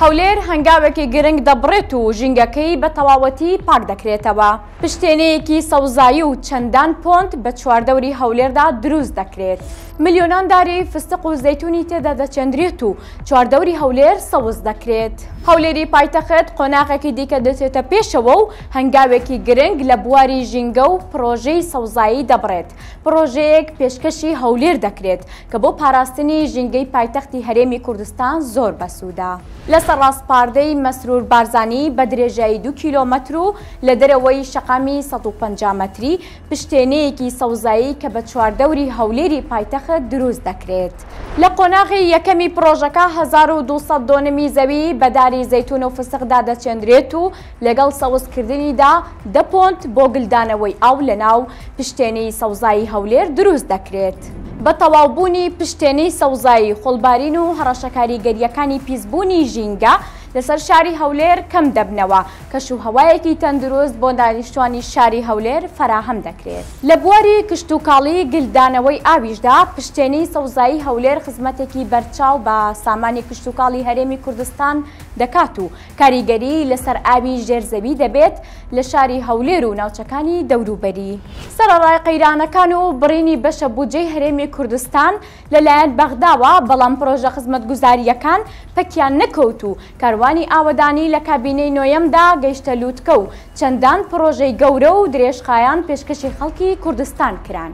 هەولێر هەنگاوێکی گرنگ دەبڕێت و ژینگەکەی بە تەواوەتی پاک دەکرێتەوە، پشتێنەیەکی سەوزایی و چەندان پۆنت بە چواردەوری هەولێردا دروست دەکرێت، ملیۆنان داری فستق و زەیتونی تێدا دەچێندرێت و چواردەوری هەولێر سەوز دەکرێت. هەولێری پایتەخت قۆناغێکی دیکە دەچێتە پێشەوە و هەنگاوێکی گرنگ لە بواری ژینگە و پڕۆژەی سەوزایی دەبڕێت، پڕۆژەیەک پێشکەشی هەولێر دەکرێت کە بۆ پاراستنی ژینگەی پایتەختی هەرێمی کوردستان زۆر بەسوودە. لەسەر ڕاسپاردەی مەسرور بارزانی بە درێژایی دوو کیلۆمەتر و لە دەرەوەی شەقامی سەد و پەنجا مەتری، پشتێنەیەکی سەوزایی کە بە چواردەوری هەولێری پایتەخت دروست دەکرێت. لە قۆناغی یەکەمی پڕۆژەکە هەزار و دوو سەد دۆنمی زەوی بە داری زەیتون و فستق دادەچێندرێت و لەگەڵ سەوز کردنیدا دە پۆنت بۆ گلدانەوەی ئاو لەناو پشتێنی سەوزایی هەولێر دروست دەکرێت. بە تەواو بوونی پشتێنی سەوزایی خۆڵبارین و هەڕەشە کاریگەرییەکانی پیسبوونی ژینگە لەسەر شاری هەولێر کەم دەبنەوە، کەش و هەوایەکی تەندروست بۆ دانیشتوانی شاری هەولێر فەراهەم دەکرێت. لە بواری کشتوکاڵی گلدانەوەی ئاویشدا پشتێنی سەوزایی هەولێر خزمەتێکی بەرچاو بە سامانی کشتوکاڵی هەرێمی کوردستان دەکات و کاریگەری لەسەر ئاوی ژێر زەوی دەبێت لە شاری هەولێر و ناوچەکانی دەوروبەری. سەرەڕای قەیرانەکان و بڕینی بەشە بودجەی هەرێمی کوردستان لەلایەن بەغداوە، بەڵام پرۆژە خزمەتگوزارییەکان پەکیان نەکەوت و کاروانی ئاوەدانی لە کابینەی نۆیەمدا گەیشتە لووتکە و چەندان پرۆژەی گەورە و درێژخایان پێشکەشی خەڵکی کوردستان کران.